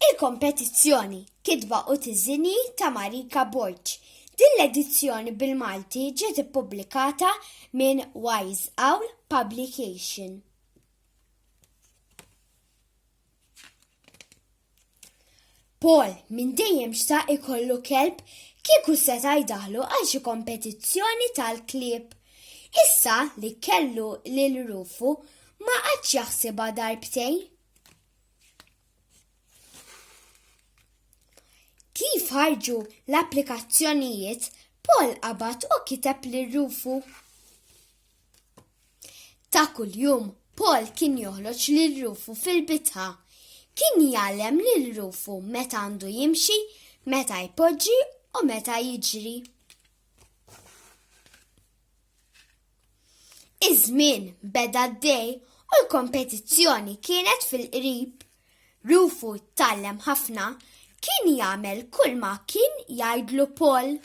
Il-kompetizzjoni Kitba u Tiżini ta' Marika Borg. Din l-edizzjoni bil-Malti ġiet ippubblikata minn Wise Owl Publication. Paul minn dejjem xtaq ikollu kelb kieku seta' jdaħlu għal xi kompetizzjoni tal-klieb. Issa li kellu lil Rufu ma għadx jaħsibha darbtejn. Kif ħarġu l-applikazzjonijiet, Paul qabad u kiteb li rufu. Ta' kuljum, Paul kien joħloġ li rufu fil-bitħa. Kien jgħallem li rufu meta għandu jimxi, meta jpoġġi u meta jiġri. Iż-żmien beda d-dej u l-kompetizzjoni kienet fil-qrib. Rufu tgħallem ħafna, kien jagħmel kull ma kien jgħidlu Paul.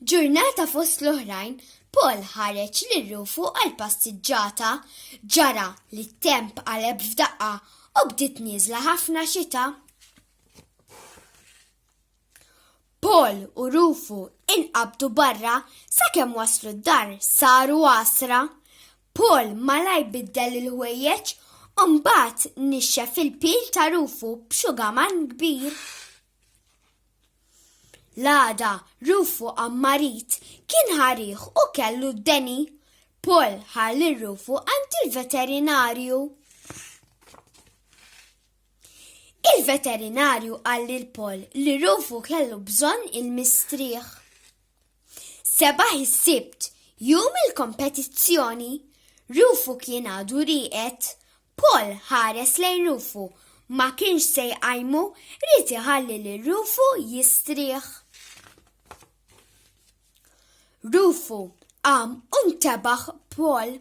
Ġurnata fost l-oħrajn, Paul ħareġ lil Rufu għal passiġġata, ġara li t-temp qaleb f'daqqa u bdiet nieżla ħafna xita. Paul u Rufu inqabdu barra sakemm waslu d-dar saru għasra. Paul malajr biddel il-ħwejjeġ u mbagħad nixxef il-pil ta' Rufu b'xugaman kbir. L-għada Rufu qam marid, kien ħarih u kellu d-deni. Paul ħa lil Rufu għand il-veterinarju. Il-veterinarju qal lil Paul li Rufu kellu bżonn il-mistrieħ. Sebaħ is-Sibt, jum il-kompetizzjoni, Rufu kien għadu rieqed. Paul ħares lejn Rufu, ma kienx se jqajmu, ried iħalli lil Rufu jistrieħ. Rufu qam u ntebaħ b'Paul.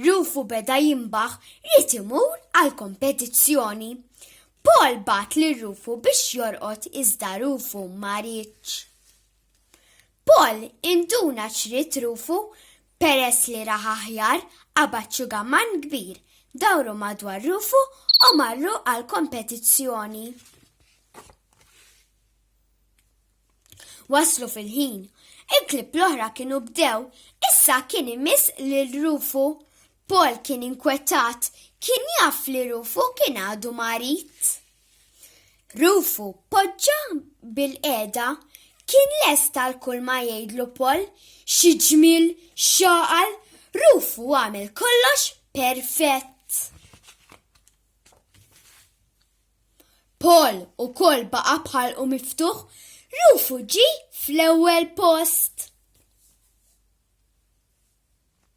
Rufu beda jinbaħ ried imur għall-kompetizzjoni. Paul bagħat lil Rufu biex jorqod iżda Rufu ma riedx. Paul induna x'ried Rufu peress li rah aħjar qabad xugamann kbir, dawru madwar Rufu u marru għall-kompetizzjoni. Waslu fil-ħin. Il-klieb l-oħra kienu bdew. Issa kien imiss lil Rufu. Paul kien inkwetat. Kien jaf li Rufu kien għadu marid. Rufu poġġa bil-qiegħda. Kien lest għal kull ma jgħidlu Paul. Xi ġmiel, x'għaqal! Rufu għamel kollox perfett. Paul ukoll baqa' bħalqu miftuħ, Rufu ġie fl-ewwel post.